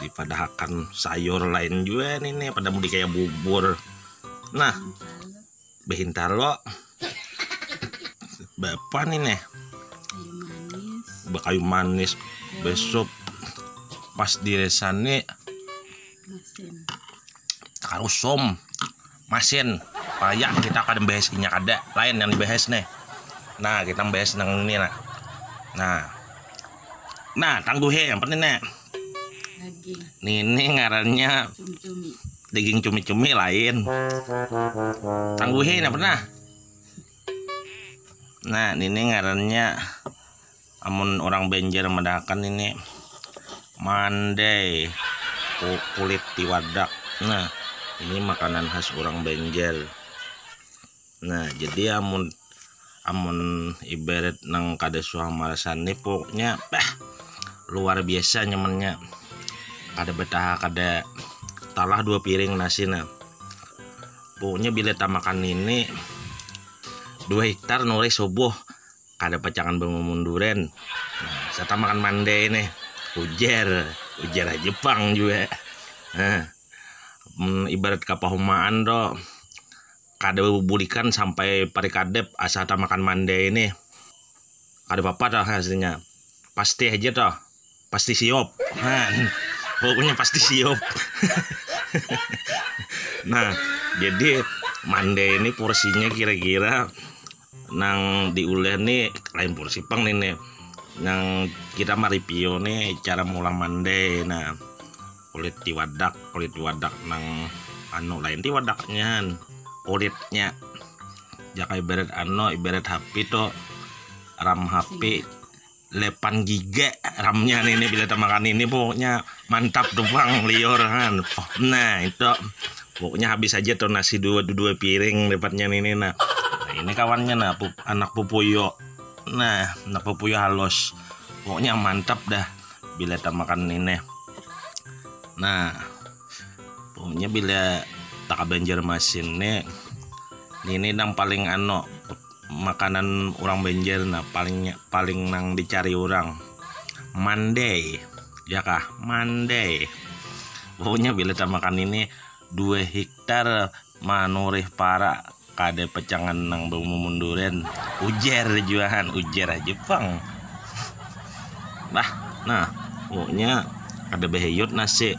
dipadahakan sayur lain juga nih nih pada mudi kayak bubur nah behintar lo bapak nih nih bakayu manis besok pas di desa nih karusom masin paya kita kada bahas inya kada lain yang dibahas nih nah kita bahas nang ini nah nah nah tangguhi yang penting nih nih ini ngarannya daging cumi-cumi lain tangguhi nah pernah nah ini ngarannya Amun urang Banjar madahakan ini mandai kulit tiwadak nah ini makanan khas urang Banjar nah jadi amun amun ibarat nang kada suah marasan ni poknya bah luar biasa nyamannya kada betaha kada talah dua piring nasi nah poknya bila tamakan ini dua hiktar nulis subuh. Kada pacangan bamamun duren. Nah, sata makan mandai nih. Ujar. Ujar haja pang jua. Nah, mm, ibarat kapahumaan to. Kada bubulikan sampai parikadep asa ta makan mandai nih. Kada apa-apa toh aslinya. Pasti haja toh. Pasti siop. Nah, pokoknya pasti siop. nah, jadi mande ini porsinya kira-kira nang diuleh nih lain porsi pang nih nih. Nang kita maripio nih cara mulang mande. Nah, kulit tiwadak, kulit tiwadak nang anu lain tiwadaknya kulitnya. Jaka ibarat ano ibarat HP to ram HP lepan gigek ramnya nih ini bila makan ini pokoknya mantap tuh bang liur kan nah itu pokoknya habis aja tuh nasi dua dua piring dapatnya ini nah. nah ini kawannya nah pup, anak pupuyo nah anak pupuyo halus pokoknya mantap dah bila tak makan ini nah pokoknya bila tak banjar masin nih ini yang paling ano Makanan urang Banjar nah paling paling nang dicari urang mandai ya kah mandai pokoknya bila tamakan ini dua hiktar manurih para kada pacangan nang bamumun durian ujar juahan ujar aja pang bah nah pokoknya kada bahiyut nasi.